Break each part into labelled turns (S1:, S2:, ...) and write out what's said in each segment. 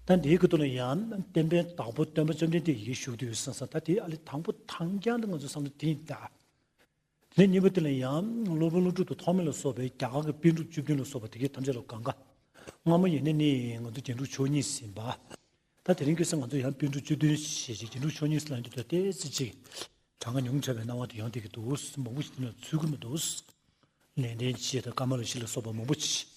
S1: ད་འདིའི་གོ་དོན་ལ་ཡང་བསྟན་པའི་དང་པོ་སྟོན་པ་བཅོམ་ལྡན་འདས་ཡིད་ཞུགས་དུས་ཡོད་སྲིད་ས་ད་དེའི་ཨ་ལས་དང་པོ་དང་རྐྱང་དུ་ང་ཚོས་བསམ་ན་དེ་ཡིན་ད། དེ་ནས་གཉིས་པ་དེ་ལ་ཡང་སློབ་དཔོན་ཀླུ་སྒྲུབ་ཏུ་ཐོགས་མེད་ལ་སོགས་པའི་རྒྱ་གར་གྱི་དཔེ་འགྲུབ་བཅུ་བདུན་ལ་སོགས་པ་དེ་གའི་ཐམས་ཅད་ལ་གང་གཱ་སྔ་མ་ཡེ་ནས་ནི་ང་ཚོ་རྒྱན་དྲུག་མཆོག་གཉིས་ཟིན་པ། ད་དེ་རིང་གི་སང་ང་ཚོས་ཡང་དཔེ་འགྲུབ་བཅུ་བདུན་ཞེས་བྱའི་རྒྱན་དྲུག་མཆོག་གཉིས་ཟིན་ལ་འདི་ལྟར་བལྟས་ཚེ་ཅིག། གྲངས་ཀ་ཉུང་དྲགས་པའི་སྣང་བ་དེ་ཡང་དེ་གི་འདུག་མང་པོ་ཞིག་དེ་ལ་ཚུལ་ཁུར་མི་འདུག། ནན་ཏན་ཆེ་དང་དཀར་དམར་ལ་ཤིག་ལ་སོགས་པ་མང་པོ་ཆེ།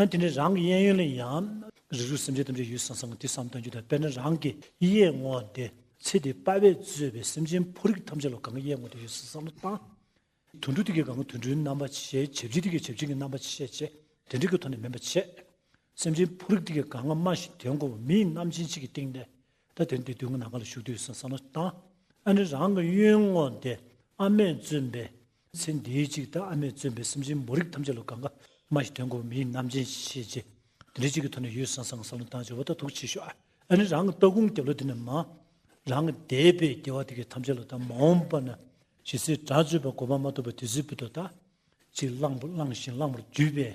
S1: ཡང་དེ་ནི་རང་གི་གཡས་གཡོན་ལ་ཡང། རིགས་རུས་སེམས་ཅན་ཐམས་ཅད་ཡུལ་སང་སང་གི་དུས་སམ་སྟོན་རྒྱུ་དང་དཔེར་ན་རང་གི་གཡས་བསྔོ་བ་སྟེ། ཚེ་འདི་དཔའ་བས་གཙོས་པའི་སེམས་ཅན་ཕོ་རིགས་ཐམས་ཅད་ལ་གང་གི་གཡས་བསྔོ་སྟེ་ཡུལ་སང་སང་ལ་བཏང། དུད་འགྲོ་དེ་གའི་གང་གི་དུད་འགྲོའི་རྣམ་པ་བྱེད། བྱེད་བྱེད་དེ་གའི་བྱེད་བྱེད་ཀྱི་རྣམ་པ་བྱེད་བྱེད་དེ་འབྲེལ་གྱི་ཐོག་ནས་མིན་པ་བྱེད། སེམས་ཅན་ཕོ་རིགས་དེ་གའི་གང་ང་སྨྲ་ཞིང་དོན་གོ་བ་མིའི་རྣམ་ཅན་གཅིག་གི་སྟེང་ནས། ད་དེ་ནི་དེའི་དུས་ང་ནམ་གང་ལ་བཞུགས་ཏེ་ཡུལ་སང་སང་ལ་བཏང། ཡང་ནི་རང་གི་གཡོན་བསྔོ་སྟེ། ཨ་མས་བཙུན་པའི། ཚེ་འདིའི་གཅིག་ལྟར་ཨ་མས་བརྩོན་པའི་སེམས་ཅན་མོ་རིགས་ཐམས་ཅད་ལ་དགའ་དགའ་སྨྲ་ཞིང་དོན་གོ་མི་ཡིན་ནམ་ཅན་ཞེས་བྱས། དེ་འདྲའི་གཅིག་གི་ཐོག་ནས་ཡུལ་སང་སང་གི་ས་བློན་དང་བྱེ་བ་དག་ཐུགས་ཆེ་ཤོས་ཨ་ནི་རང་གི་ལྟ་གུང་སྐྱབས་ལོ་དེ་ནས་མང། རང་གི་འདས་པའི་རྒྱལ་བ་དེ་གའི་ཐམས་ཅད་ལ་དང་མ་འོངས་པ་ན་ཞེས་སྲིད་དགྲ་བཅོས་པ་གོ་བ་མ་ཐུབ་པ་དེ་སྲིད་བུ་དོ་དག་ཅིག་གླང་བུ་བླངས་ཤིང་གླང་བུར་འདུས་པས་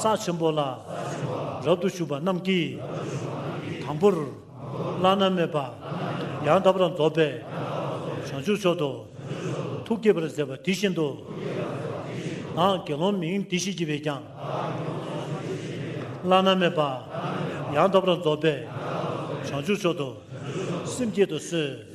S1: ས་ཆེན་པོ་ལ་རབ་ཏུ་ཞུགས་པ་རྣམས་ཀྱིས། དང་པོར་བླ་ན་མེད་པ་ཡང་དག་པར་རྫོགས་པའི་བྱང་ཆུབ་མཆོག་ཏུ་ཐུགས་བསྐྱེད་པར་མཛད་པ་དེ་བཞིན་དུ། བདག་དགེ་སློང་མིང་འདི་ཞེས་བགྱི་བས་ཀྱང། བླ་ན་མེད་པ་ཡང་དག་པར་རྫོགས་པའི་བྱང་ཆུབ་མཆོག་ཏུ་སེམས་བསྐྱེད་དུ་གསོལ།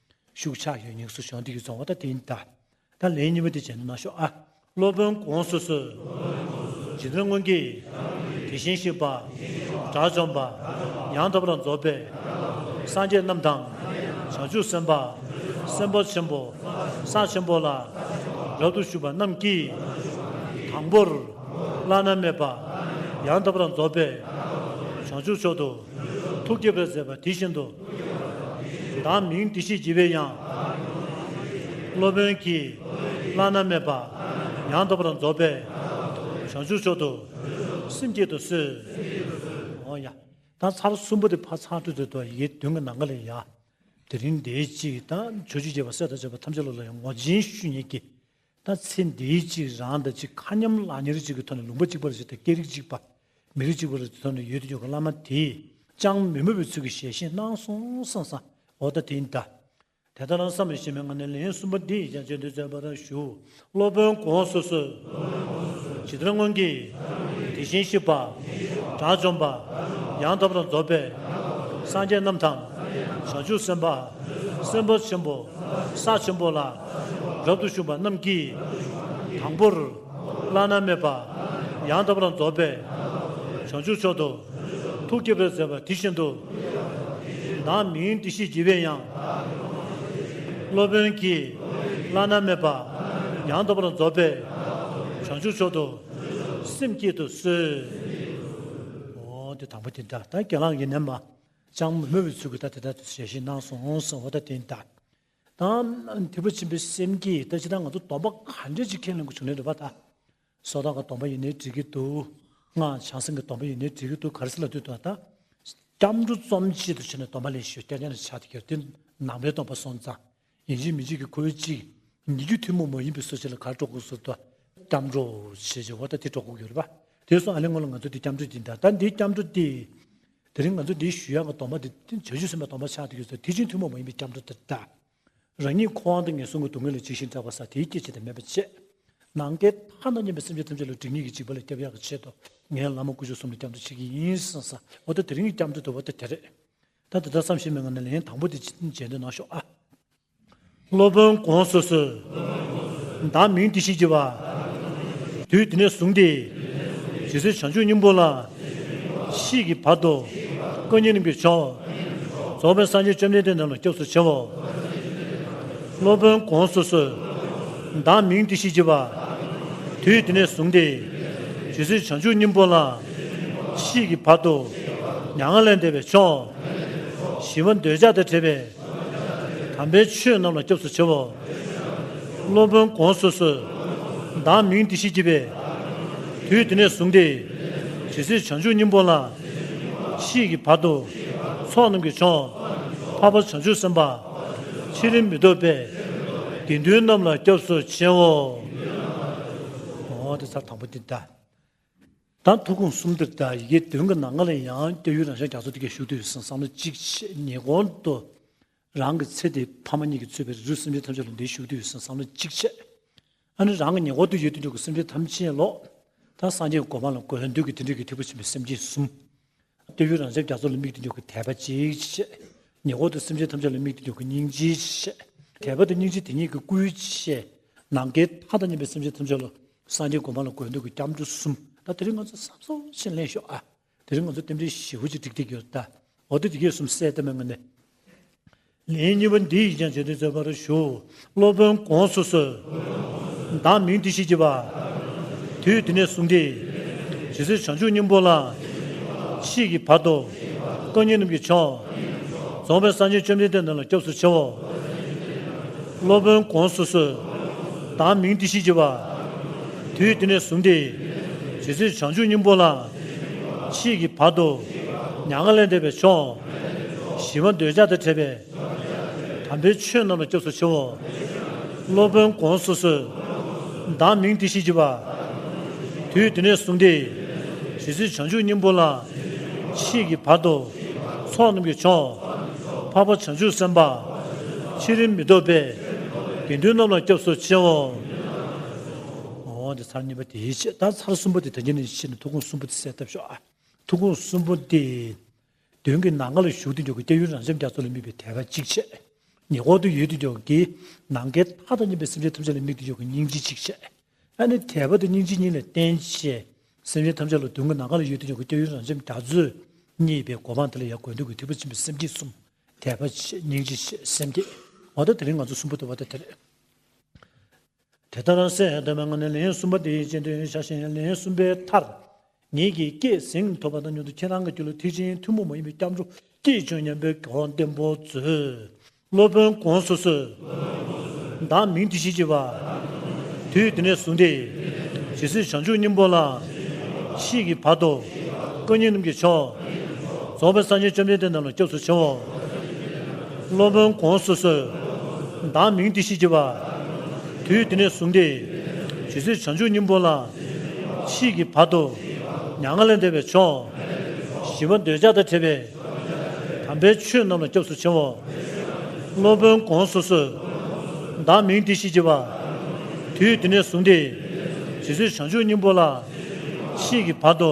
S1: ཤུགས་ཆག་ཡོད་སྙིང་སུ་ཞོག་འདི་ཀྱི་རྫོང་བ་ད་དེ་ད་ད་ལེན་གཉིས་པ་དེ་བྱེད་ན་མ་ཤོག་ཨ། སློབ་དཔོན་དགོངས་སུ་གསོལ། རྗེ་བཙུན་སྔོན་གྱི། དེ་བཞིན་གཤེགས་པ། དགྲ་བཅོམ་པ། ཡང་དག་པར་རྫོགས་པའི། སངས་རྒྱས་རྣམས་དང། བྱང་ཆུབ་སེམས་དཔའ། སེམས་དཔའ་ཆེན་པོ། ས་ཆེན་པོ་ལ། རབ་ཏུ་ཞུགས་པ་རྣམས་ཀྱིས། དང་པོར། བླ་ན་མེད་པ། ཡང་དག་པར་རྫོགས་པའི། བྱང་ཆུབ་མཆོག་ཏུ། ཐུགས་བསྐྱེད་པར་མཛད་པ་དེ་བཞིན་དུ། བདག་མིང་འདི་ཞེས་བགྱི་བའི་ཡང། སློབ་དཔོན་གྱིས་བླ་ན་མེད་པ། ཡང་དག་པར་རྫོགས་པའི་བྱང་ཆུབ་མཆོག་ཏུ། སེམས་བསྐྱེད་དུ་གསོལ། དང་ཚར་གསུམ་པོ་དེ་ཕ་ཚ་ཁྲུ་ཚོད་དུ་ཡི་བདུན་གྱི་ནང་ག་ལས་ཡ། དེ་རིང་དེའི་དཔྱིད་དང་བྱོ་བྱི་རྒྱས་པ་སྲས་དང་བཅས་པ་ཐམས་ཅད་ལོ་ལ་ཡང་ངོ་སྦྱིན་ཞུ་ཉེ་བགྱི། ད་ཚེ་འདིའི་གཅིག་རང་དང་གཅིག་མཁའ་མཉམ་བླ་ཉེར་གཅིག་གི་ཐོག་ནས་ལུང་པ་གཅིག་པར་བྱེད་དེ་སྐད་རིགས་གཅིག་པ། མི་རིགས་གཅིག་པར་བྱེད་ཐོག་ནས་ཡོད་དུ་ཡོད་མཁན་བླ་མ་དེས་ཅང་མི་མོས་པའི་ཚུལ་གྱིས་ཞལ་བཞེས་གནང་སོང་བསམ་ས་འོ་ད་དེ་འདྲ། དེ་ལྟར་ན་བསམ་ལ་ཞེ་མེད་ངང་ནས་ལན་གསུམ་པ་འདི་ཡིས་ཀྱང་བརྗོད་འདོད་བརྩོན་པར་ཞུ། སློབ་དཔོན་གོང་སོ་སོས། ཇི་ལྟར་སྔོན་གྱི། དེ་བཞིན་གཤེགས་པ། དགྲ་བཅོམ་པ། ཡང་དག་པ་དང་རྫོགས་པའི། སངས་རྒྱས་རྣམས་དང། བྱང་ཆུབ་སེམས་དཔའ། སེམས་དཔའ་ཆེན་པོ། ས་ཆེན་པོ་ལ། རབ་ཏུ་ཞུམ་པ་རྣམས་ཀྱིས། དང་པོར། བླ་ན་མེད་པ། ཡང་དག་པར་རྫོགས་པའི། བྱང་ཆུབ་མཆོག་ཏུ། ཐུགས་བསྐྱེད་པའི་མཛད་པ་དེ་བཞིན་དུ། བདག་མི་ཡུལ་འདི་ཞེས་བགྱི་བས་ཡང། སློབ་དཔོན་གྱིས། བླ་ན་མེད་པ། ཡང་དག་པར་རྫོགས་པའི། བྱང་ཆུབ་མཆོག་ཏུ། སེམས་བསྐྱེད་དུ་གསོལ། འོ་དེ་དང་པོ་དེ་འདྲ་ད་གྱེན་ལངས་ཀྱི་ནས་མ། ཅང་མི་སྨོས་པའི་ཚུལ་གྱིས་ད་དེ་ལྟར་དུ་ཞལ་བཞེས་གནང་སོང་ཟེར་བ་ད་དེ་ལྟར། དང། དེ་ཕོ་ཆེན་པོའི་སེམས་ཀྱིས་ད་ཅི་ད་ང་ཚོ་སྡོམ་པ་ག་འདྲས་ཅིག་ཁས་ལེན་དགོས་བྱུང་ནས་རེད་བ་ད། སོ་ད་ག་སྡོམ་པ་ཡིན་ནའི་འགྲིག་གི་འདུག་ང་བྱང་སེམས་ཀྱི་སྡོམ་པ་ཡིན་ནའི་འགྲིག་གི་འདུག་ག་རེ་སེ་ལ་ལྟོས་དུ་ད། སྐྱབས་འགྲོ་རྩོམ་གཅིག་ཏུ་བྱས་ནས་སྡོམ་པ་ལེན་ཞོར་སྐྱ་རྒྱང་རེ་ཕྱག་སྟེ་གྱེར་ཏེ་ནང་པའི་སྡོམ་པ་སོང་ཙང། ཡིན་གཅིག་མིན་གཅིག་གིས་ཁོའི་གཅིག། ཉིད་རྒྱུད་ཐུན་མོང་མ་ཡིན་པའི་སྲོལ་ཆེན་ལ་ག་རེ་སྤྲོ་དགོས་ཟེར་དུ། སྐྱབས་འགྲོ། ཞེས་བྱས་བ་ད་དེ་སྤྲོ་དགོས་ཀྱི་རེད་བ། དེ་སོང་ཨ་ལེ་སྔོན་ལ་ང་ཚོ་འདི་སྐྱབས་འགྲོ་འདི་འདྲ་ད་འདི་སྐྱབས་འགྲོ་སྟེ། དེ་རིང་ང་ཚོས་འདིའི་ཞུ་དབྱངས་ཀྱི་དོགས་མ་དེ་བྱ་རྒྱུད་སྲིད་མའི་དོགས་མ་ཆགས་འདུག་ཡོད་ཚད་ཐེག་ཆེན་ཐུན་མོང་མ་ཡིན་པའི་སྐྱབས་འགྲོ་དེ་འདྲ། རང་ཉིད་ཁོ་དབང་དང་ངན་སོང་གི་སྡུག་བསྔལ་ལས་འཇིགས་ཤིང་སྐྲག་པ་ས་དེའི་སྐྱེད་བྱེད་དེ་མེད་པ་བཅས། ནང་བསྟན་མཐའ་ན་སྙན་པའི་སེམས་ཅན་ཐམས་ཅད་ལ་དྲིན་གཉིས་ཀྱི་འཇིགས་པ་ལས་སྐྱབས་ཡག་གི་ཆེད་དུ་ངས་བླ་མ་སྐུ་བཞུགས་གསུམ་ལ་སྐྱབས་འགྲོ་བྱེད་ཀྱི་ཡིན་བསམ་ས་འོ་ད་དེ་རིང་གི་སྐྱབས་འགྲོ་དོད་པོ་དེ་དེ་རེད། ད་དེ་ལྟར་བསམ་ཤེས་མེད་ང་ནི་ལན་དང་པོ་དེ་བརྗེད་འདོད་གནང་ཤོག་ཨ། སློབ་དཔོན་དགོངས་སུ་གསོལ། བདག་མིང་འདི་ཞེས་བགྱི་བ། དུས་འདི་ནས་བཟུང་སྟེ། ཇི་སྲིད་བྱང་ཆུབ་སྙིང་པོ་ལ། ཤིས་ཀྱི་བར་དུ། ཀུན་མཉེས་རིམ་གྱིས་མཆོག། རྫོགས་པའི་སངས་རྒྱས་བཅོམ་ལྡན་འདས་རྣམས་ལ་སྐྱབས་སུ་མཆིའོ། སློབ་དཔོན་དགོངས་སུ་གསོལ། བདག་མིང་འདི་ཞེས་བགྱི་བ། དུས་འདི་ནས་བཟུང་སྟེ། ཇི་སྲིད་བྱང་ཆུབ་སྙིང་པོ་ལ། ཤིས་ཀྱི་བར་དུ། མྱ་ངན་ལས་འདས་པའི་མཆོག། ཞི་བ་འདོད་ཆགས་དང་བྲལ་བའི། དམ་པའི་ཆོས་རྣམས་ལ་སྐྱབས་སུ་མཆི། སློབ་དཔོན་གོང་སོ་སོས། བདག་མིང་འདི་ཞེས་བགྱི་བས། དུས་དེ་ནས་བཟུང་སྟེ། ཇི་སྲིད་བྱང་ཆུབ་སྙིང་པོ་ལ། ཤིས་ཀྱི་བར་དུ། ཚོགས་རྣམས་ཀྱི་མཆོག། འཕགས་པ་བྱང་ཆུབ་སེམས་དཔའ། ཕྱི་རིམ་མི་ལྡོག་པས། དགེ་འདུན་རྣམས་ལ་སྐྱབས་སུ་མཆིའོ། དང་ཐུགས་དགོངས་གསུམ་དེར་བརྟེན་ཡི་གེ་བདུན་གྱི་ནང་སྔགས་ལས་ཡང་བསྐྱར་ཡུལ་རང་ཤར་རྒྱ་མཚོ་དེ་གའི་ཞུགས་དུས་སུ་བསམ་བློ་གཅིག་ཆེད་ཉེ་དགོང་དུ། རང་གི་ཚེ་འདིའི་ཕ་མ་གཉིས་ཀྱིས་གཙོས་པའི་རིགས་རུས་སེམས་ཅན་ཐམས་ཅད་ལ་འདིའི་ཞུགས་དུས་སུ་བསམ་བློ་གཅིག་ཆེད། ཨ་ནི་རང་གི་ཉེ་འཁོར་དུ་ཡོད་དུས་འཇུག་གི་སེམས་ཅན་ཐམས་ཅད་ལོག། དང་སངས་རྒྱས་གོ་འཕང་ལ་འགོད་ལ་འདུད་ཀྱི་དེ་འདྲིས་ཀྱི་ཐེག་པ་ཆེན་པོའི་སེམས་ཅན་གསུམ། ལྟོས་ཡུལ་རང་བྱང་རྒྱ་མཚོ་ལ་མིག་ཏུ་འཇུག་གི་དད་པ་ཅིག་བྱེད། ཉེ་འཁོར་དུ་སེམས་ཅན་ཐམས་ཅད་ལ་མིག་ཏུ་འཇུག་གི་སྙིང་རྗེ་ཅིག་བྱེད། དད་པ་དང་སྙིང་རྗེ་དེ་གཉིས་ཀྱི་སྐུའི་བཤད། ནམ་མཁའི་མཐའ་དང་མཉམ་པའི་སེམས་ཅན་ཐམས་ཅད་ལ། སངས་རྒྱས་སྒོམ་སྤང་ལ་དགོས་འདོད་ཀྱི་སྐྱབས་འགྲོ་གསུམ། ད་དེ་རིང་ང་ཚོ་བསམ་བཟོ་ཞིག་ལེན་ཤོག་ཨ། དེ་རིང་ང་ཚོ་རྟེན་འབྲེལ་བཞི་བོ་ཅིག་བསྒྲིགས་བསྡད་ཡོད་ད། འོ་དེ་དེ་གས་གསུམ་གསལ་གཏམ་མ་ངེས་ནས། ལན་གཉིས་པ་འདི་ཡིས་ཀྱང་བྱེད་དུ་བཅུག་པར་ཞུ། སློབ་དཔོན་དགོངས་སུ་གསོལ། བདག་མིང་འདི་ཞེས་བགྱི་བ། དུས་དེ་ནས་བཟུང་སྟེ། ཇི་སྲིད་བྱང་ཆུབ་སྙིང་པོ་ལ། མཆིས་ཀྱི་བར་དུ། བཀའ་རྙིང་རྣམས་ཀྱི་མཆོག། རྫོགས་པའི་སངས་རྒྱས་བཅོམ་ལྡན་འདས་རྣམས་ལ་སྐྱབས་སུ་མཆིའོ། སློབ་དཔོན་དགོངས་སུ་གསོལ། བདག་མིང་འདི་ཞེས་བགྱི་བ། དུས་དེ་ནས་བཟུང་སྟེ། ཇི་སྲིད་བྱང་ཆུབ་སྙིང་པོ་ལ། མཆིས་ཀྱི་བར་དུ། མྱ་ངན་ལས་འདས་པའི་མཆོག། ཞི་བ་འདོད་ཆགས་དང་བྲལ་བའི། དམ་པའི་ཆོས་རྣམས་ལ་སྐྱོབས་སུ་མཆིའོ། སློབ་དཔོན་དགོངས་སུ་གསོལ། བདག་མིང་དེ་བཞིན་གྱིས་པ། དུས་དེ་ནས་བཟུང་སྟེ། ཇི་སྲིད་བྱང་ཆུབ་སྙིང་པོ་ལ། མཆིས་ཀྱི་བར་དུ། ཚོགས་རྣམས་ཀྱི་མཆོག། འཕགས་པ་བྱང་ཆུབ་སེམས་དཔའ། ཕྱི་རིམ་མི་ལྡོག་པའི། དགེ་འདུན་རྣམས་ལ་སྐྱོབས་སུ་མཆིའོ། འོ་དེ་ཚར་གཉིས་པ་དེའི་ཕྱིར་ད་ཚར་གསུམ་པོ་དེ་དོན་གྱི་ནི་ཕྱིར་ནི་ཐུགས་དགོངས་གསུམ་པོ་དེ་གསལ་བཏབ་ཤོག་ཨ། ཐུགས་དགོངས་གསུམ་པོ་དེ། དོན་གྱིས་ནང་མཁའ་ལ་ཞུགས་དུས་འཇོག་གི་སྐྱེ་ཡུལ་རང་སེམས་རྒྱ་མཚོ་ལ་དམིགས་པའི་དད་པ་གཅིག་ཆད། ཉེ་འཁོར་དུ་ཡོད་དུས་འཇོག་གིས་ནང་མཁའི་མཐའ་དང་གཉིས་པའི་སེམས་ཅན་ཐམས་ཅད་ལ་དམིགས་དུས་འཇོག་གི་སྙིང་རྗེ་གཅིག་ཆད། ཨ་ནི་དད་པ་དང་སྙིང་རྗེ་གཉིས་ལ་བརྟེན་བྱས། སེམས་ཅན་ཐམས་ཅད་ལ་དོན་གྱིས་ནང་མཁའ་ལ་ཡོད་དུས་འཇོག་གི་སྐྱེ་ཡུལ་རང་སེམས་རྒྱ་མཚོས་བསྙད་པའི་གོ་འཕང་དེ་ལ་ཡང་དགོས་འདོད་ཀྱི་ཐིགས་པ་འཆིང་བའི་སེམས་བསྐྱེད་གསུམ། དད་པ་ཆེ་སྙིང་རྗེ་ཆེ་སེམས་བསྐྱེད། འོ་ད་དེ་རིང་ང་ཚོ་གསུམ་པོ་དེ་བ་དང་དེར། དེ་ལྟར་གསལ་བཏབ་པའི་ངང་ནས་ལན་གསུམ་པ་དེའི་རྗེས་ཟློས་བྱ་ཞིང་ལན་གསུམ་པའི་མཐར། ངེད་ཀྱིས་སྐད་གཟེངས་ཐོབ་པ་དང་མྱུར་དུ་ཁྱེད་རང་གི་རྒྱུད་ལ་ཐེག་ཆེན་ཐུན་མོང་མ་ཡིན་པའི་སྐྱབས་འགྲོ་སྐྱེས་བྱུང་སྙམ་པའི་དགེ་བ་བརྟན་པོ་མཛོད། སློབ་དཔོན ྋགོང་ས་སོས། བདག་མིང་འདི་ཞེས་བགྱི་བ། དུས་དེ་ནས་བཟུང་སྟེ། ཇི་སྲིད་བྱང་ཆུབ་སྙིང་པོ་ལ། མཆིས་ཀྱི་བར་དུ། སྐུ་ཉིད་རྣམས་ཀྱི་མཆོག། རྫོགས་པའི་སངས་རྒྱས་བཅོམ་ལྡན་འདས་རྣམས་ལ་སྐྱབས་སུ་མཆིའོ། སློབ་དཔོན་གོང་སོ་སོའི། བདག་མིང་དེ་ཤེས་བགྱི་བ། དུས་དེ་ནས་བཟུང་སྟེ། ཇི་སྲིད་བྱང་ཆུབ་སྙིང་པོ་ལ། མཆིས་ཀྱི་བར་དུ། མྱ་ངན་ལས་འདས་པའི་མཆོག། ཞི་བ་འདོད་ཆགས་དང་བྲལ་བའི། དམ་པའི་ཆོས་རྣམས་ལ་སྐྱབས་སུ་མཆིའོ། སློབ་དཔོན་གོང་སོ་སོའི། བདག་མིང་དེ་ཤེས་བགྱི་བ། དུས་དེ་ནས་བཟུང་སྟེ། ཇི་སྲིད་བྱང་ཆུབ་སྙིང་པོ་ལ། མཆིས་ཀྱི་བར་དུ།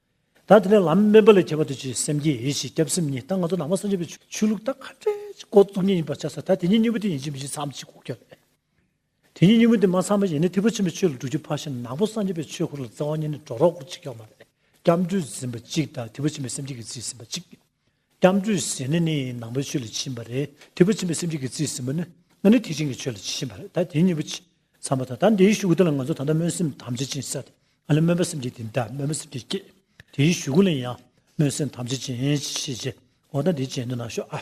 S1: ད་དེ་ནས་ལམ་དམན་པ་ལས་ཁྱད་པར་དུ་བྱས་སེམས་ཀྱི་ཡིད་བྱེད་སྐྱབས་སེམས་གཉིས་ད་ང་ཚོ་ནང་པ་སངས་རྒྱས་པའི་ཆོས་ལུགས་ད་ཁ་བྲལ་གྱི་སྒོ་བཙུགས་ཉིད་ཡིན་པར་བྱས་སོ་ད་དེ་ཉིད་གཉིས་པོ་དེ་ཡིན་གཅིག་མིན་གཅིག་མཚམས་གཅིག་གོ་ཁྱོད་ལས། དེ་ཉིད་གཉིས་པོ་དེ་མ་ཚང་བ་ཡིན་ན་ཐེག་པ་ཆེན་པོའི་ཆོས་ལ་འགྲོ་རྒྱུ་ཕར་ཕྱིན་ནང་པོ་སངས་རྒྱས་པའི་ཆོས་འཁོར་ལ་རྩ་བ་ཉིད་ནས་འགྲོ་རོགས་སྐོར་གཅིག་ཀྱང་མ་རེད་སྐྱབས་འགྲོས་འཛིན་པ་གཅིག་ད་ཐེག་པ་ཆེན་པོའི་སེམས་བསྐྱེད་ཀྱི་རྩིས་ཟིན་པ་གཅིག་སྐྱབས་འགྲོའི་ཟས་ནི་ནི་ནང་པའི་ཆོས་ལ་ཇི་བཞིན་པ་རེད་དེ་བུ་ཆེན་པོའི་སེམས་ཅན་གྱི་རྩིས་ཟིན་པ་ནི་ང་ནི་ཐེག་ཆེན་གྱི་ཆོས་ལ་ཇི་བཞིན་པ་རེད་ད་དེའི་གཉིས་པོ་ཅི་འཚམ་པ་དང་ད་འདིའི་ཞུ་དགུ་ལ་ང་ཚོ་ད་ལྟ་སྨོན་སེམས་དམ་བཅའ་ཅན་བསད་དེ་ང་ལ་སྨོན་པ་སེམས་ཅན་དེ་འདྲ་སྨོན་པ་སེམས་ཅན་སྐྱེས་དེའི་ཞུ་དགུ་ལ་ཡང་སྨོན་སེམས་དམ་བཅའ་ཅན་ཅི་ཤེས་ཀྱི་འོ་ད་འདི་བྱས་ནི་ན་ཤོག་ཨ།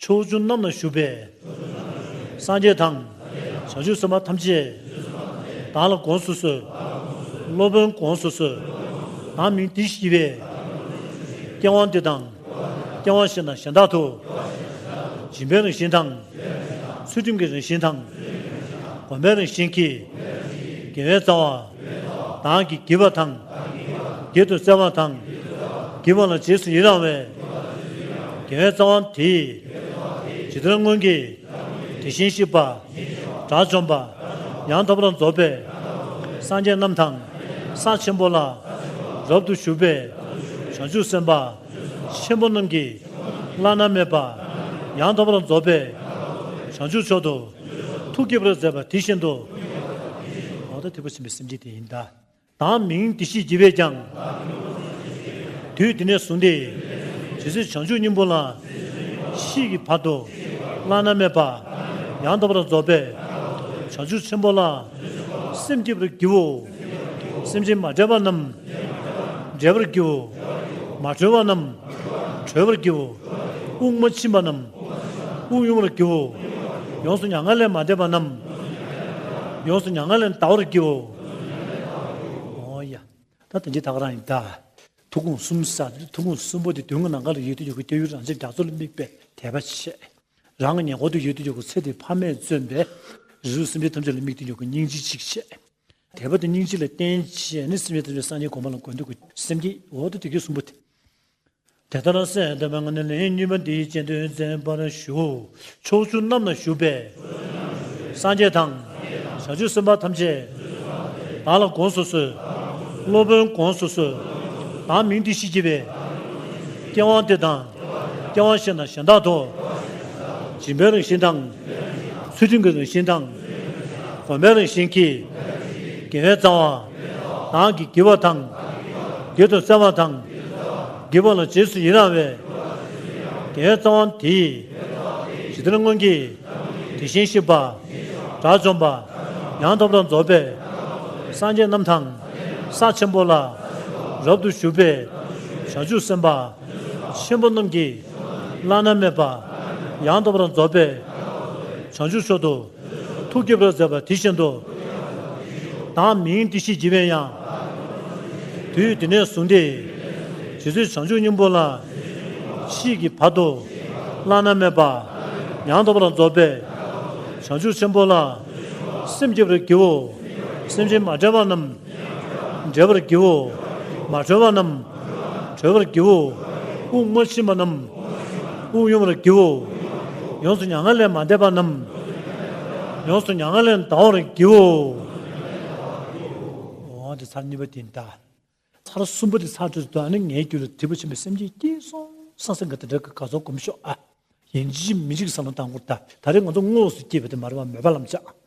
S1: ཕྱོགས་བཅུ་རྣམས་ན་བཞུགས་པའི། སངས་རྒྱས་དང། བྱང་ཆུབ་སེམས་དཔའ་ཐམས་ཅད། བདག་ལ་དགོངས་སུ་གསོལ། སློབ་དཔོན་དགོངས་སུ་གསོལ། བདག་མིང་འདི་ཞེས་པས། སྐྱེ་བ་འདི་དང། སྐྱེ་བ་བཞིན་དང་གཞན་དག་ཏུ། སྦྱིན་པའི་རང་བཞིན་དང། ཚུལ་ཁྲིམས་ཀྱི་རང་བཞིན་དང། བསྒོམ་པའི་རང་བཞིན་གྱིས། དགེ་བའི་རྩ་བ། དང་གིས་བགྱི་བ་དང། བགྱིད་དུ་བསྩལ་བ་དང། བགྱིད་པ་ལ་རྗེས་སུ་ཡི་རང་བའི། དགེ་བའི་རྩ་བ་དེས། ཇི་ལྟར་སྔོན་གྱི། དེ་བཞིན་གཤེགས་པ། དགྲ་བཅོམ་པ། ཡང་དག་པར་རྫོགས་པའི། སངས་རྒྱས་རྣམས་དང། ས་ཆེན་པོ་ལ། རབ་ཏུ་ཞུགས་པའི། བྱང་ཆུབ་སེམས་དཔའ། ཆེན་པོ་རྣམས་ཀྱིས། བླ་ན་མེད་པ། ཡང་དག་པར་རྫོགས་པའི། བྱང་ཆུབ་མཆོག་ཏུ། ཐུགས་སྐྱེ་བར་མཛད་པ་དེ་བཞིན་དུ། ལོག་ལྟ་དུད་པ་ཟིན་པའི་སེམས་ཅན་དེ་ཡིན། བདག་མིང་དེ་ཞེས་བགྱི་བས་ཀྱང། དུས་དེ་ནས་བཟུང་སྟེ། ཇི་སྲིད་བྱང་ཆུབ་སྙིང་པོ་ལ། ཤིས་ཀྱི་བར་དུ། བླ་ན་མེད་པ། ཡང་དག་པར་རྫོགས་པའི། བྱང་ཆུབ་ཆེན་པོ་ལ། སེམས་བསྐྱེད་པར་བགྱིའོ། སེམས་ཅན་མ་དྲོས་པ་རྣམས་འདྲེས་པར་སྐྱེའོ། མ་གྲོལ་བ་རྣམས་གྲོལ་བར་སྐྱེའོ། དབུགས་མ་ཕྱིན་པ་རྣམས་དབུགས་དབྱུང་བར་སྐྱེའོ། ཡོངས་སུ་མྱ་ངན་ལས་མ་འདས་པ་རྣམས་ཡོངས་སུ་མྱ་ངན་ལས་འདའ་བར་སྐྱེའོ། ཨོ་ཡ། ད་དོན་གྱི་རྟགས་རང་ཡིན་ད། ཐུགས་དགོངས་གསུམ་ས་ཐུགས་དགོངས་གསུམ་པོ་དེ་དོན་གྱི་ནང་ག་ལ་ཡོད་དུ་ཡོད་དགོས་ཀྱི་ཡུལ་རང་ཆེ་རྒྱ་མཚོ་ལ་དམིགས་པའི་དད་པ་ཆེ། རང་གི་ཉེ་འཁོར་དུ་ཡོད་དུ་ཡོད་དགོས་ཚེ་དེ་ཕ་མས་བརྩོན་པའི་རིལ་བུ་སེམས་ཅན་ཐམས་ཅད་ལ་དམིགས་ཏེ་ཡོད་དགོས་སྙིང་རྗེ་གཅིག་ཆེ། དད་པ་དང་སྙིང་རྗེ་ལ་བརྟེན་བྱས་ནས་སེམས་ཅན་ཐམས་ཅད་སངས་རྒྱས་གོང་མ་ལ་དགོས་འདོད་ཀྱི་སེམས་ཀྱིས་འོག་ཏུ་དེ་སྐད་གསུངས་པ་དེ། དེ་ལྟར་ན་སེམས་དཔའ་ངག་ནས་ལན་གཉིས་པ་འདིའི་སྤྱན་དོན་མཛད་པར་ཞུ། ཕྱོགས་བཅུ་རྣམས་ན་བཞུགས་པའི། སངས་རྒྱས་དང། བྱང་ཆུབ་སེམས་དཔའ་ཐམས་ཅད། བདག་ལ་དགོངས་སུ་གསོལ། སློབ་དཔོན་དགོངས་སུ་གསོལ། བདག་མིང་འདི་ཞེས་བགྱི་བའི། སྐྱེ་བ་འདི་དང། སྐྱེ་བ་གཞན་དང་གཞན་དག་ཏུ། སྦྱིན་པའི་རང་བཞིན་དང། ཚུལ་ཁྲིམས་ཀྱི་རང་བཞིན་དང། གོམས་པའི་རང་བཞིན་གྱིས། དགེ་བའི་རྩ་བ། དག་གིས་བགྱི་བ་དང། བགྱིད་དུ་བསྩལ་བ་དང། བགྱིད་པ་ལ་རྗེས་སུ་ཡི་རང་བའི། དགེ་བའི་རྩ་བ་དེ་ཡིས། ཇི་ལྟར་སྔོན་གྱི། དེ་བཞིན་གཤེགས་པ། དགྲ་བཅོམ་པ། ཡང་དག་པར་རྫོགས་པའི། སངས་རྒྱས་རྣམས་དང། ས་ཆེན་པོ་ལ། རབ་ཏུ་ཞུགས་པའི། བྱང་ཆུབ་སེམས་དཔའ། ཆེན་པོ་རྣམས་ཀྱིས་བླ་ན་མེད་པ། ཡང་དག་པར་རྫོགས་པའི་བྱང་ཆུབ་མཆོག་ཏུ། ཐུགས་སྐྱེད་པར་མཛད་པ་དེ་བཞིན་དུ། བདག་མིང་འདི་ཞེས་བགྱི་བའི་ཡང། དུས་འདི་ནས་བཟུང་སྟེ། ཇི་སྲིད་བྱང་ཆུབ་སྙིང་པོ་ལ། མཆིས་ཀྱི་བར་དུ། བླ་ན་མེད་པ། ཡང་དག་པར་རྫོགས་པའི། བྱང་ཆུབ་ཆེན་པོ་ལ། སེམས་བསྐྱེད་པར་བགྱིའོ། སེམས་ཅན་མ་བསྒྲལ་བ་རྣམས། འདྲེ་བར་བགྱིའོ། མ་གྲོལ་བ་རྣམས། གྲོལ་བར་བགྱིའོ། དབུགས་མ་ཕྱིན་པ་རྣམས། དབུགས་དབྱུང་བར་བགྱིའོ། ཡོངས་སུ་མྱ་ངན་ལས་མ་འདས་པ་རྣམས། ཡོངས་སུ་མྱ་ངན་ལས་འདའ་བར་བགྱིའོ། འོ་དེ་ཚར་གཉིས་པ་དེ་འདའ། ཚར་གསུམ་པོ་དེ་ཚར་དྲུག་དེ་དང་ནི་ངའི་རྒྱུད་ལ་བསྡུས་པ་ཆེན་པོའི་སེམས་ཅན་སྐྱེས་སོང་སང་སེང་གེ་དང་འདྲ་གི་དགའ་ཚོར་བསྒོམ་ཤོག་ཨ། ཡིན་གཅིག་མིན་གཅིག་གི་ས་ལམ་དང་པོར་བལྟ། ད་རེས་ང་ཚོ་དངོས་སུ་སྐྱེས་པ་དེ་མ་རེད་བ་མོས་པ་ལམ་བཅའ།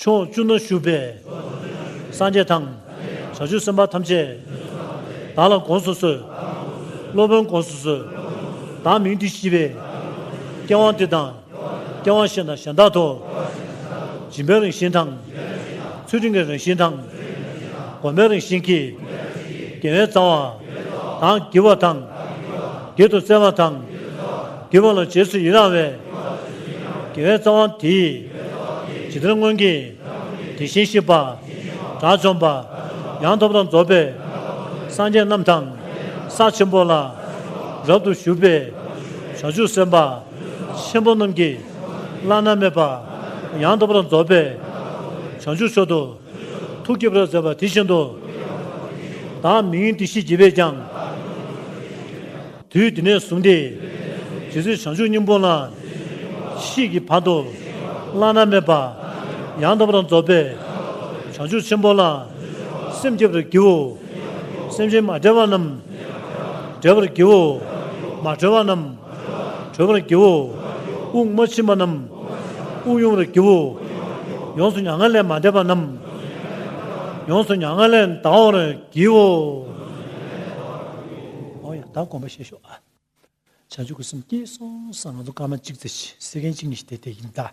S1: ཕྱོགས་བཅུ་ན་བཞུགས་པའི། སངས་རྒྱས་དང། བྱང་ཆུབ་སེམས་དཔའ་ཐམས་ཅད། བདག་ལ་དགོངས་སུ་གསོལ། སློབ་དཔོན་དགོངས་སུ་གསོལ། བདག་མིང་འདི་ཤེས་པས། སྐྱེ་བ་འདི་དང། སྐྱེ་བ་གཞན་དང་གཞན་དག་ཏུ། སྦྱིན་པའི་རང་བཞིན་དང། ཚུལ་ཁྲིམས་ཀྱི་རང་བཞིན་དང། སྒོམ་པའི་རང་བཞིན་གྱིས། དགེ་བའི་རྩ་བ། དང་བགྱི་བ་དང། བགྱིད་དུ་སྩལ་བ་དང། དགེ་བ་ལ་རྗེས་སུ་ཡི་རང་བའི། དགེ་བའི་རྩ་བ་འདི། ཇི་ལྟར་སྔོན་གྱི། དེ་བཞིན་གཤེགས་པ། དགྲ་བཅོམ་པ། ཡང་ཐོབ་དང་རྫོགས་པའི། སངས་རྒྱས་རྣམས་དང། ས་ཆེན་པོ་ལ། རབ་ཏུ་བཞུགས་པའི། བྱང་ཆུབ་སེམས་དཔའ། ཆེན་པོ་རྣམས་ཀྱི། བླ་ན་མེད་པ། ཡང་ཐོབ་དང་རྫོགས་པའི། བྱང་ཆུབ་མཆོག་ཏུ། ཐུགས་བསྐྱེད་པར་མཛད་པ་དེ་བཞིན་དུ། བདག་མིང་འདི་ཞེས་བགྱི་བས་ཀྱང། དུས་འདི་ནས་བཟུང་སྟེ། ཇི་སྲིད་བྱང་ཆུབ་སྙིང་པོ་ལ། གཤིས་ཀྱི་བར་དུ་བླ་ན་མེད་པ། ཡང་དག་པར་རྫོགས་པའི་བྱང་ཆུབ་ཆེན་པོ་ལ། སེམས་བསྐྱེད་པར་བགྱིའོ། སེམས་ཅན་མ་བསྒྲལ་བ་རྣམས། བསྒྲལ་བར་བགྱིའོ། མ་གྲོལ་བ་རྣམས། གྲོལ་བར་བགྱིའོ། དབུགས་མ་ཕྱིན་པ་རྣམས། དབུགས་དབྱུང་བར་བགྱིའོ། ཡོངས་སུ་མྱ་ངན་ལས་མ་འདས་པ་རྣམས། ཡོངས་སུ་མྱ་ངན་ལས་འདའ་བར་བགྱིའོ། ཨོ་ཡ་ད་དགོངས་པ་བཞེས་ཤོག་ཨ། བྱང་ཆུབ་ཀྱི་སེམས་སྐྱེས་སོང་ས་ང་ཚོ་སྐར་མ་གཅིག་ཚེ་ཤི་སེ་མཁན་གཅིག་ནི་ཞི་དེ་དེ་ཡིན་ད།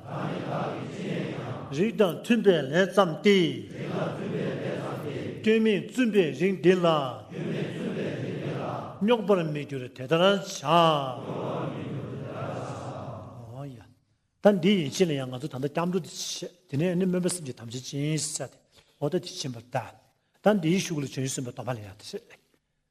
S1: རིགས་དང་མཐུན་པའི་ལས་བརྩམས་ཏེ། སྐྱོན་མེད་བཙུན་པའི་རིགས་འདི་ལ། རྙོག་པར་མི་འགྱུར་དེ་ལྟར་བྱ། ད་འདི་ཡིན་ཕྱིན་ལ་ཡང་ང་ཚོ་ད་ལྟ་སྐྱབས་འགྲོ་འདི་བྱེད། དེ་ནས་ནི་སྨོན་པ་སེམས་ཀྱི་དམ་ཚིག་ཅན་ཞེས་བྱ་སྟེ། ཨོ་ད་ཅི་བྱིན་པར་བལྟ། ད་འདིའི་ཤུགས་ལ་བྱོན་ཞེས་གསུངས་པའི་དོགས་པ་ལ་ཡང་དེ་བྱེད།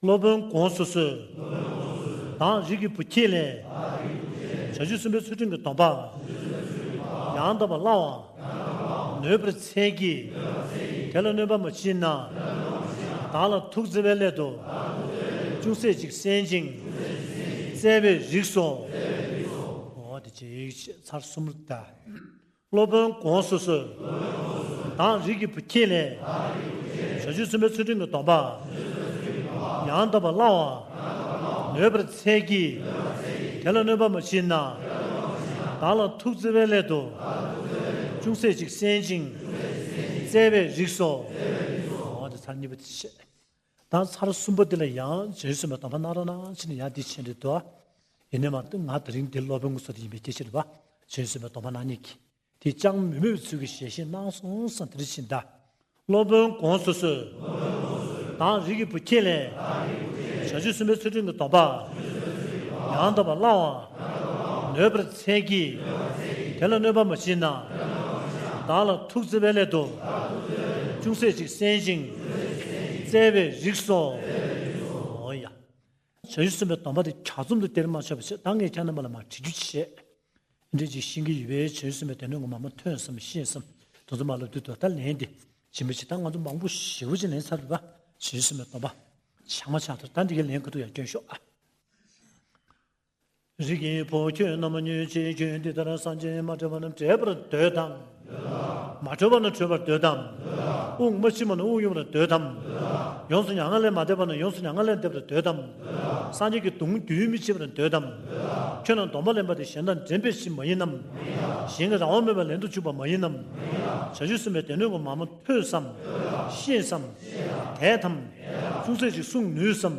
S1: སློབ་དཔོན་དགོངས་སུ་གསོལ། དང་རིགས་ཀྱི་བུ་ཁྱེད་ལས། བྱ་རྒྱུད་གསུམ་པའི་ཚུལ་ཁྲིམས་ཀྱི་སྡོམ་པ། ཡང་དག་པར་བླང་བ། ནོད་པར་འཚལ་གྱིས། དེ་ལ་གནོད་པ་མ་མཆིས་ན། བདག་ལ་ཐུགས་བརྩེ་བའི་སླད་དུ། ཅུང་ཟད་ཅིག་གསན་ཅིང། བརྩེ་བས་རིགས་སོ། ཚར་གསུམ་དང། སློབ་དཔོན་དགོངས་སུ་གསོལ། དག་རིག་གི་བུ་ཁྱེད་ལས། ཞག་བཅུ་ཚུན་པའི་ཚུལ་ཁྲིམས་ཀྱི་སྡོམ་པ། ཡང་དག་པར་བླང་བ། ནོད་པར་འཚལ་གྱིས། དེ་ལ་གནོད་པ་མ་མཆིས་ན། བདག་ལ་ཐུགས་བརྩེ་བའི་སླད་དུ། ཅུང་ཟད་ཅིག་གསན་ཅིང། བརྩེ་བས་རིགས་སོ། དང་ཚར་གསུམ་པོ་འདི་ལ་ཡང་རྗེས་སུ་མི་མཐོང་བར་སྣང་རང་སྣང་ཕྱིན་ནས་ཡང་འདི་ཕྱིན་རེད་དོ། ཡེ་ནས་མ་འདི་ང་དེ་རིང་འདི་སློབ་དཔོན་ངོ་སོ་དེ་ཡིན་པའི་སྐྱེ་མཆེད་བ། རྗེས་སུ་མི་མཐོང་བར་སྣང་ཉིད་ཀྱིས། དེ་ཅང་མི་མོས་པའི་ཚུལ་གྱིས་ཞལ་བཞེས་གནང་སོང་ཟིན་དེ་རིང་ཕྱིན་གདའ། སློབ་དཔོན་གོང་སོ་སོའི། དང་རིགས་ཀྱི་བུ་ཁྱེད་ལས། བྱང་ཆུབ་སེམས་དཔའི་ཚུལ་ཁྲིམས་ཀྱི་སྡོམ་པ། ཡང་དག་པར་བླང་བ། གནོད་པར་འཚལ་གྱིས། དེ་ལ་གནོད་པ་མ་མཆིས་ན། བདག་ལ་ཐུགས་བརྩེ་བའི་སླད་དུ། ཅུང་ཟད་ཅིག་གསན་ཅིང་བསྩལ་བའི་རིགས་སོ། ཨོ་ཡ། བྱ་ཡུལ་གསུམ་པའི་སྡོམ་པ་དེ་གྱ་ཚོམ་དུ་སྟེར་མ་ཆོག་པའི་ཕྱིར་ད་ངས་ཁྱེད་རྣམ་པ་ལ་མ་དྲི་རྒྱུ་ཅི་བྱེད། འདི་ཅིག་བྱིན་གྱིས་ཡིད་པའི་བྱ་ཡུལ་གསུམ་པའི་སྡེ་སྣོད་ངོ་མ་མ་ཐོས་སམ་ཤེས་སམ། དུ་ཚོད་མ་ལ་དུས་དུ་ད་ལན་དེ་བྱིན་པའི་ཕྱིར་ད་ང་ཚོ་མང་པོ་ཞིག་བུ་ཅིག་ལེན་ཚར་བས་བྱ་ཡུལ་གསུམ་པའི་སྡོམ་པ་ཆག་མ་ཆག་དེར་ད་འདི་གའི་ལན་ག་དུ་ཡང་བསྐྱོན་ཤོག་ཨ། རིགས་ཀྱི་བུ་ཁྱོད་རྣམས་མ་ཉོན་ཅིག་ཁྱོད་འདི་ལྟར་སངས་རྒྱས་མ་བྲལ་བ་ན་བྲལ་བར་འདོད་དམ། མ་གྲོལ་བ་ན་གྲོལ་བར་འདོད་དམ། དབུགས་མ་ཕྱིན་པ་ན་དབུགས་དབྱུང་བར་འདོད་དམ། ཡོངས་སུ་མྱ་ངན་ལས་མ་འདས་པ་ན་ཡོངས་སུ་མྱ་ངན་ལས་འདས་པར་འདོད་དམ། སངས་རྒྱས་ཀྱི་གདུང་རྒྱུན་མི་འཆད་པར་འདོད་དམ། ཁྱོད་རྣམས་སྡོམ་པ་ལེན་པ་དེ་གཞན་དང་འགྲན་པའི་གཞི་མ་ཡིན་ནམ། གཞན་གྱི་རང་དབང་མེད་པར་ལེན་དུ་བཅུག་པ་མ་ཡིན་ནམ། བྱ་རྒྱུད་གསུམ་པའི་སྡེ་སྣོད་གོང་མ་མ་ཐོས་སམ། ཤེས་སམ། དད་དམ། ཅུང་ཟད་ཅིག་བསྲུང་ནུས་སམ།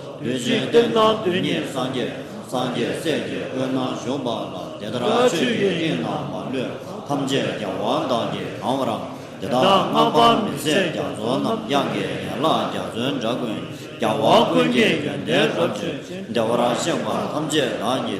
S1: དེ་བཞིན་གཏེར་སྣང་དུས་གཉིས་སངས་རྒྱས་སངས་རྒྱས་སྲས་ཀྱི་དབུས་ན་བཞུགས་པ་ལ་དེ་ལྟར་ཆོས་ཀྱི་དབྱིངས་རྣམས་མ་ལུས་ཐམས་ཅད་ཀྱང་དབང་དང་གི་གང་བར་རམ་དེ་དག་སྔགས་པ་མི་བཟད་རྒྱ་མཚོ་རྣམས་དབྱངས་ཀྱི་ཡན་ལག་རྒྱ་མཚོའི་འདྲ་ཀུན་ཀྱང་དབང་ཀུན་གྱི་ཡོན་ཏན་རབ་བརྗོད་བདེ་བར་གཤེགས་པ་ཐམས་ཅད་རང་གི།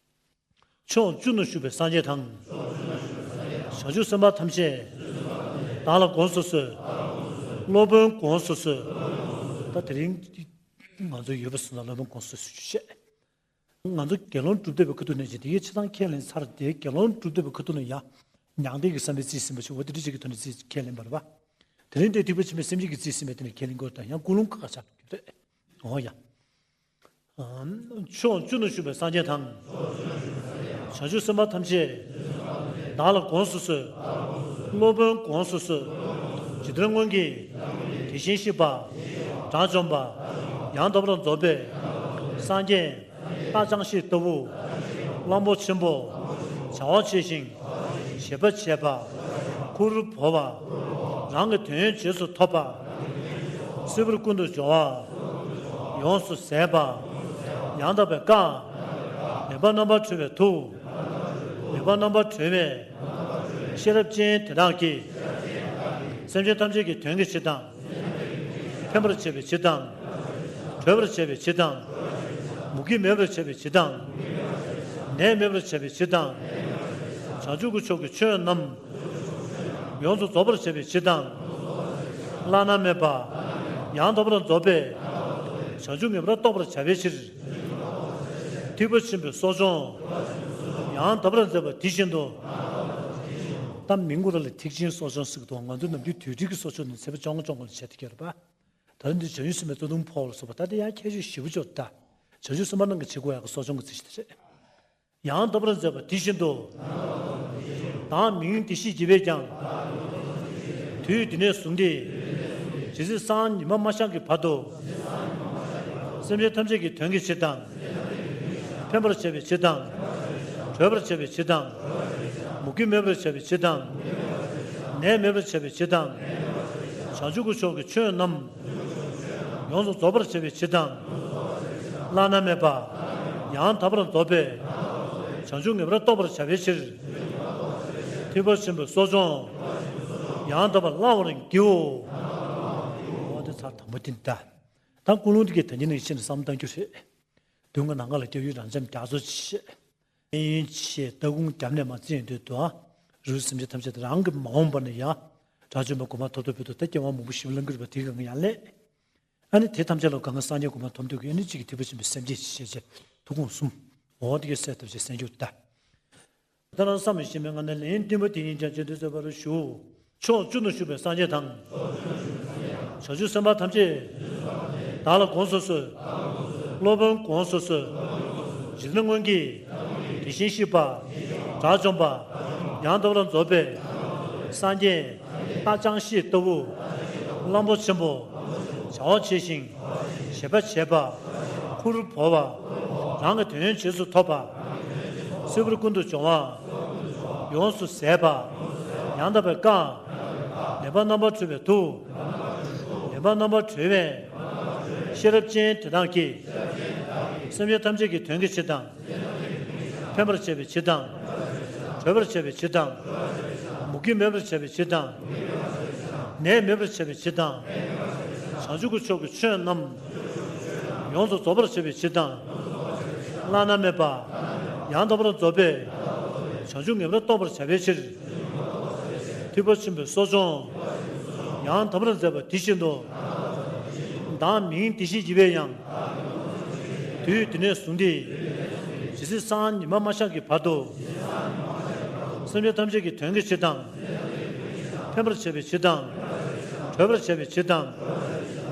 S1: ཕྱོགས་བཅུ་ན་བཞུགས་པའི་སངས་རྒྱས་དང། བྱང་ཆུབ་སེམས་དཔའ་ཐམས་ཅད། བདག་ལ་དགོངས་སུ་གསོལ། སློབ་དཔོན་དགོངས་སུ་གསོལ། ད་དེ་རིང་ང་ཚོ་ཡོད་པ་སོང་ན་སློབ་དཔོན་དགོངས་སུ་གསོལ་ཞུ་ཤེས། ང་ཚོ་དགེ་སློང་སྒྲུབ་སྡེ་བའི་ཁུ་ཐུ་ནས་ཅིག་དེ་ཡི་ཕྱི་ཚང་ཁས་ལེན་ཚར་དེ་དགེ་སློང་སྒྲུབ་སྡེ་བའི་ཁུ་ཐུ་ནས་ཡང་མྱང་འདས་ཀྱི་བསམ་པའི་རྩིས་ཟིན་པ་ཞིག་འོ་དེ་འདྲི་བྱེད་ཀྱི་ཐོག་ནས་རྩིས་ཁས་ལེན་པ་རེད་པ། དེ་རིང་འདས་ཐིག་པ་ཆེན་པོའི་སེམས་ཅན་གྱི་རྩིས་ཟིན་པའི་ཐད་ནས་ཁས་ལེན་དགོས་དང་ཡང་ཀུན་སློང་ཁ་ཁ་ཆགས་ཀྱི་རེད། འོ་ཡ། ཕྱོགས་བཅུ་ན་བཞུགས་པའི་སངས་རྒྱས་དང། བྱང་ཆུབ་སེམས་དཔའ་ཐམས་ཅད། བདག་ལ་དགོངས་སུ་གསོལ། སློབ་དཔོན་དགོངས་སུ་གསོལ། ཇི་ལྟར་སྔོན་གྱི། དེ་བཞིན་གཤེགས་པ། དགྲ་བཅོམ་པ། ཡང་དག་པར་རྫོགས་པའི། སངས་རྒྱས། རྟགས་ཅང་ཤེས་ལྟ་བུ། གླང་པོ་ཆེན་པོ། བྱ་བ་བྱས་ཤིང། བྱེད་པ་བྱས་པ། ཁུར་བོར་བ། རང་གི་དོན་རྗེས་སུ་ཐོབ་པ། སིལ་བུར་ཀུན་ཏུ་སྦྱོར་བ། ཡོངས་སུ་ཟད་པ། ཡང་དག་པའི་བཀའ། ངེས་པ་རྣམ་པར་གྲོལ་བའི་ཐུགས། ངེས་པ་རྣམ་པར་གྲོལ་བའི། ཤེས་རབ་ཅན་དེ་དག་གིས། སེམས་ཅན་ཐམས་ཅད་ཀྱི་དོན་གྱི་ཕྱིར་དང། ཕན་པར་བྱེད་པའི་ཕྱིར་དང། གྲོལ་བར་བྱེད་པའི་ཕྱིར་དང། མུ་གེ་མེད་པར་བྱེད་པའི་ཕྱིར་དང། ནད་མེད་པར་བྱེད་པའི་ཕྱིར་དང། བྱང་ཆུབ་ཀྱི་ཕྱོགས་ཀྱི་ཆོས་རྣམས། ཡོངས་སུ་རྫོགས་པར་བྱེད་པའི་ཕྱིར་དང། བླ་ན་མེད་པ། ཡང་དག་པར་རྫོགས་པའི། བྱང་ཆུབ་ངེས་པར་རྟོགས་པར་བྱ་བའི་ཕྱིར། ཐེག་པ་ཆེན་པོའི་སོགས་སྦྱོང། ཡང་དག་པར་མཛད་པ་དེ་བཞིན་དུ། ད་མིང་གུ་ར་ལས་ཐེག་ཆེན་སོགས་སྦྱོང་སྲིད་དོ་ང་ཚོ་ནམ་རྒྱུན་དུས་དྲུག་གི་སོགས་ཆོས་ནི་ཚེ་བ་བཅོ་ལྔ་སྦྱོང་གང་ཟེར་བྱས་ཏེ་གྱེར་པ། ད་ནི་འདིར་བྱང་ཆུབ་སེམས་དཔའི་གཙོ་དུང་ཕོག་ལ་སོགས་པ་ད་ལྟ་ཡང་ཁྱད་ཆོས་བཞི་པོ་སྦྱོར་བདག། བྱང་ཆུབ་སེམས་དཔའ་རྣམས་ཀྱི་ཆེ་དགུ་ཨ་ཀ་སོགས་སྦྱོང་གི་ཚིག་ཤེས་ཏེ། ཡང་དག་པར་མཛད་པ་དེ་བཞིན་དུ། དང་མི་ཡུལ་འདི་ཤེས་བགྱི་བས་ཀྱང། དུས་འདི་ནས་བཟུང་སྟེ། ཇི་སྲིད་སངས་ཉི་མ་མ་ཤར་གྱི་བར་དུ། སེམས་ཅན་ཐམས་ཅད་ཀྱི་དོན་གྱི་ཕྱིར་དང། ཕན་པར་བྱ་བའི་ཕྱིར་དང། གྲོལ་བར་བྱ་བའི་ཕྱིར་དང། མུ་གེ་མེད་པར་བྱ་བའི་ཕྱིར་དང། ནད་མེད་པར་བྱ་བའི་ཕྱིར་དང། བྱང་ཆུབ་ཀྱི་ཕྱོགས་ཀྱི་ཆོས་རྣམས། ཡོངས་སུ་རྫོགས་པར་བྱེད་པའི་ཕྱིར་དང། བླ་ན་མེད་པ། ཡང་དག་པར་རྫོགས་པའི། བྱང་ཆུབ་ངེས་པར་རྟོགས་པར་བྱ་བའི་ཕྱིར། ཐེག་པ་ཆེན་པོའི་གསོ་སྦྱོང། ཡང་དག་པར་བླང་བར་བགྱིའོ། འོ་དེ་ཚར་དང་པོ་དེ་འདི་ལྟ་སྟེ། ཀུན་སློང་དེ་ཀའི་དོན་ཉིད་ནི་ཤིན་ཏུ་བསམ་གཏན་གྱི་རེད། དུས་འགའ་ནངས་ལ་སྐྱེ་བོའི་རང་འཚམས་རྒྱ་མཚོ་ཆེ། གནས་ཡུན་ཆེས་སྟ་གུང་རྒྱབ་ནས་མ་བརྩིས་དུས་དུ་ཨ་རུའི་སེམས་ཅན་ཐམས་ཅད་རང་གི་མ་འོངས་པ་ན་ཡང་དགྲ་བཅོམ་པ་སྒོ་མ་ཐོབ་ཐོབ་བོད་དུ་ད་སྐྱེ་བ་མང་པོ་ཞིག་བླངས་གྱུར་པ་དེ་གང་ཡང་ལས་ཨ་ནི་དེ་ཐམས་ཅད་ལ་གང་གི་སངས་རྒྱས་སྒོ་མ་ཐོབ་འདོད་ཀྱི་ཨ་ནི་གཅིག་གིས་ཐེག་པ་ཆེན་པོའི་སེམས་བསྐྱེད་ཅེས་བྱའི་ཐུགས་དགོངས་གསུམ་འོ་འོ་ཏིག་གེ་གསལ་ཐུབ་ཅེས་གསན་རྒྱུར་གདའ། ད་རང་བསམ་ལ་ཤེས་མེད་ང་ནི་ལན་བདུན་པ་དེ་ཡིན་ཀྱང་བརྗོད་འདོད་རྩོད་པར་ཞུ། ཕྱོགས་བཅུ་ན་བཞུགས་པའི་སངས་རྒྱས་དང། བྱང་ཆུབ་སེམས་དཔའ་ཐམས་ཅད། བདག་ལ་དགོངས་སུ་གསོལ། སློབ་དཔོན་དགོངས་སུ་གསོལ། རིགས་ལྔ་སྔོན་གྱི། དེ་བཞིན་གཤེགས་པ། དགྲ་བཅོམ་པ། ཡང་འདོད་ལ་རྫོགས་པའི། སངས་རྒྱས། རཏྣ་ཅང་ཤེས་ལྟ་བུ། གླང་པོ་ཆེན་པོ། བྱ་བ་བྱས་ཤིང། བྱེད་པ་བྱས་པ། ཁུར་བོར་བ། རང་གི་དོན་ཡོན་བྱེས་སུ་ཐོབ་པ། སྲིད་པར་ཀུན་ཏུ་སྦྱོང་བ། ཡོངས་སུ་ཟད་པ། ཡང་དག་པའི་བཀའ། ལེན་པ་རྣམ་པར་གྲོལ་བའི་ཐུགས། ལེན་པ་རྣམ་པར་གྲོལ་བས། ཤེས་རབ་ཅན་དེ་དག་གིས། སེམས་ཅན་ཐམས་ཅད་ཀྱི་དོན་གྱི་ཕྱིར་དང། ཕན་པར་བྱེད་པའི་ཕྱིར་དང། གྲོལ་བར་བྱ་བའི་ཕྱིར་དང། མུ་གེ་མེད་པར་བྱ་བའི་ཕྱིར་དང། ནད་མེད་པར་བྱ་བའི་ཕྱིར་དང། བྱང་ཆུབ་ཀྱི་ཕྱོགས་ཀྱི་ཆོས་རྣམས། ཡོངས་སུ་རྫོགས་པར་བྱེད་པའི་ཕྱིར་དང། བླ་ན་མེད་པ། ཡང་དག་པར་རྫོགས་པའི། བྱང་ཆུབ་ངེས་པར་རྟོགས་པར་བྱ་བའི་ཕྱིར། ཐེག་པ་ཆེན་པོའི་གསོ་སྦྱོང། ཡང་དག་པར་མཛད་པ་དེ་བཞིན་དུ། བདག་མིང་དེ་བཞིན་བགྱི་བའི་ཡང། དུས་དེ་ནས་བཟུང་སྟེ། ཇི་སྲིད་སང་ཉི་མ་མ་ཆགས་ཀྱི་བར་དུ། སེམས་ཅན་ཐམས་ཅད་ཀྱི་དོན་གྱི་ཕྱིར་དང། ཕན་པར་བྱེད་པའི་ཕྱིར་དང། གྲོལ་བར་བྱེད་པའི་ཕྱིར་དང།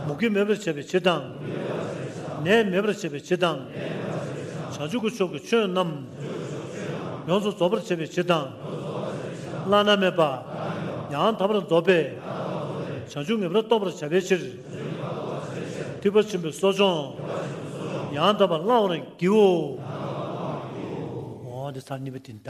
S1: མུ་གེ་མེད་པར་བྱེད་པའི་ཕྱིར་དང། ནད་མེད་པར་བྱེད་པའི་ཕྱིར་དང། བྱང་ཆུབ་ཀྱི་ཕྱོགས་ཀྱི་ཆོས་རྣམས། ཡོངས་སུ་རྫོགས་པར་བྱེད་པའི་ཕྱིར་དང། བླ་ན་མེད་པ། ཡང་དག་པར་རྫོགས་པའི། བྱང་ཆུབ་ངེས་པར་རྟོགས་པར་བྱ་བའི་ཕྱིར། ཐིགས་པ་ཆེན་པོའི་གསོ་སྦྱོང། ཡང་དག་པར་བླང་བར་བགྱིའོ། འོ་འདི་ཚར་གཉིས་པ་དེ་ལྟ།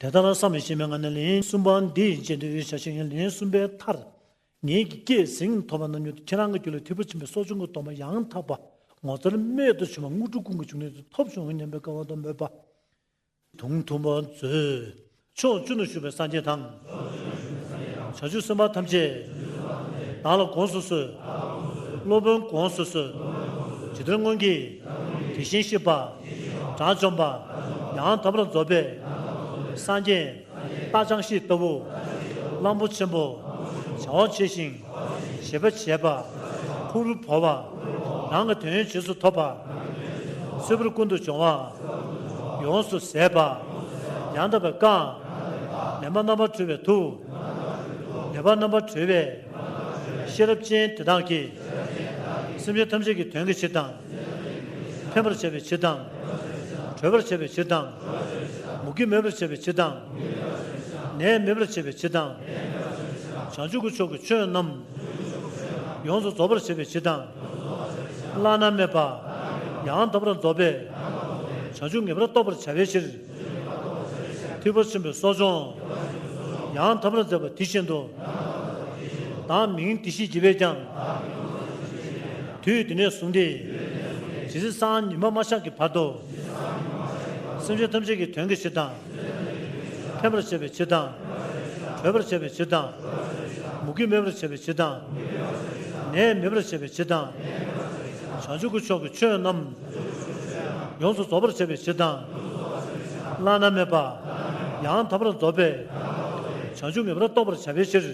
S1: དེ་ལྟར་བསམ་མི་ཤེས་མའི་ངང་ནས་ལན་གསུམ་པ་འདི་བརྗེད་འདོད་ཡོད་བྱ་ཞིང་ལན་གསུམ་པའི་མཐར། ངེད་ཀྱི་སྐྱེས་ཟིན་ཐོབ་པ་རྣམས་ཉོན་དུ་ཁྱེད་རང་གི་རྒྱུད་ལ་ཐིབས་པོ་ཆེན་པོའི་སྲོག་ཆུང་གི་གདོང་པ་ཡང་དག་པ་ངོ་མཚར་རྨད་དུ་བྱུང་བ་དངོས་གྲུབ་ཀུན་གྱི་འབྱུང་གནས་དུ་ཐོབ་བྱུང་སྙམ་པའི་དགའ་བ་དང་མོས་པ། དུང་དུང་བར་མཛོད། ཕྱོགས་བཅུ་ན་བཞུགས་པའི་སངས་རྒྱས་དང། བྱང་ཆུབ་སེམས་དཔའ་ཐམས་ཅད། བདག་ལ་དགོངས་སུ་གསོལ། སློབ་དཔོན་དགོངས་སུ་གསོལ། ཇི་ལྟར་སྔོན་གྱི། དེ་བཞིན་གཤེགས་པ། དགྲ་བཅོམ་པ། ཡང་དག་པར་རྫོགས་པའི། སངས་རྒྱས། རྟག་འཆང་ཤིང་ལྟ་བུ། གླང་པོ་ཆེན་པོ། བྱ་བ་བྱས་ཤིང། བྱེད་པ་བྱས་པ། ཕུག་རུ་བོར་བ། རང་གི་དོན་བྱས་སུ་ཐོབ་པ། ཚོལ་བར་ཀུན་ཏུ་སྦྱོང་བ། ཡོངས་སུ་ཟད་པ། ཡང་དག་པའི་བཀའ། ལས་མ་རྣམ་པར་གྲོལ་བའི་ཐུགས། ལས་པ་རྣམ་པར་གྲོལ་བའི། ཤེས་རབ་ཅན་དེ་དག་གིས། སེམས་ཅན་ཐམས་ཅད་ཀྱི་དོན་གྱི་ཕྱིར་དང། ཕན་པར་བྱ་བའི་ཕྱིར་དང། གྲོལ་བར་བྱ་བའི་ཕྱིར་དང། མུ་གེ་མེད་པར་བྱ་བའི་ཕྱིར་དང། ནད་མེད་པར་བྱ་བའི་ཕྱིར་དང། བྱང་ཆུབ་ཀྱི་ཕྱོགས་ཀྱི་ཆོས་རྣམས། ཡོངས་སུ་རྫོགས་པར་བྱ་བའི་ཕྱིར་དང། བླ་ན་མེད་པ། ཡང་དག་པར་རྫོགས་པའི། བྱང་ཆུབ་ངེས་པར་རྟོགས་པར་བྱ་བའི་ཕྱིར། མཐུ་བོ་ཆེན་པོའི་གསོ་སྦྱོང། ཡང་དག་པར་མཛད་པ་དེ་བཞིན་དུ། བདག་མིང་འདི་ཞེས་བགྱི་བས་ཀྱང། དུས་འདི་ནས་བཟུང་སྟེ། ཇི་སྲིད་སང་ཉི་མ་མ་ཤར་གྱི་བར་དུ། སེམས་ཅན་ཐམས་ཅད་ཀྱི་དོན་གྱི་ཕྱིར་དང། ཕན་པར་བྱེད་པའི་ཕྱིར་དང། གྲོལ་བར་བྱེད་པའི་ཕྱིར་དང། མུ་གེ་མེད་པར་བྱེད་པའི་ཕྱིར་དང། ནད་མེད་པར་བྱེད་པའི་ཕྱིར་དང། བྱང་ཆུབ་ཀྱི་ཕྱོགས་ཀྱི་ཆོས་རྣམས། ཡོངས་སུ་རྫོགས་པར་བྱེད་པའི་ཕྱིར་དང། བླ་ན་མེད་པ། ཡང་དག་པར་རྫོགས་པའི། བྱང་ཆུབ་ངེས་པར་རྟོགས་པར་བྱ་བའི་ཕྱིར།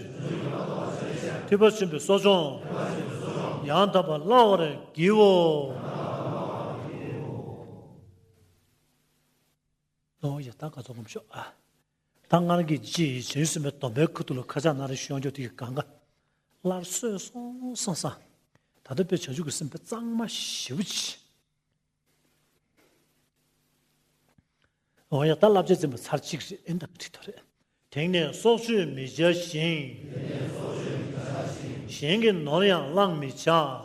S1: ཐོས་པ་ཆེན་པོའི་གསོ་སྦྱོང། ཡང་དག་པར་བླང་བར་བགྱིའོ། ད་སྔར་གྱི་ཅི་ཡི་བྱེ་ཡུལ་སེམས་དཔའི་སྡོམ་པའི་ཁུར་ཐུག་ལ་ཁ་ཆག་ན་རེ་ཤོད་འཇོག་དེ་ཡི་གང་ག། སླར་སོས་སོང་སང་སང། ད་ལྟ་དཔེ་བྱ་བྱུག་གི་སེམས་དཔའ་གཙང་མ་བཞི་བོ་ཅི། འོ་ཡ་ད་བསླབ་བྱ་འཛིན་པ་ཚར་གཅིག་རེད་ཨེ་འདག་དྲི་དོགས་རེད། དེང་ནས་སྲོག་གཅོད་མི་བྱ་ཞིང། གཞན་གྱི་ནོར་ཡང་བླངས་མི་བྱ།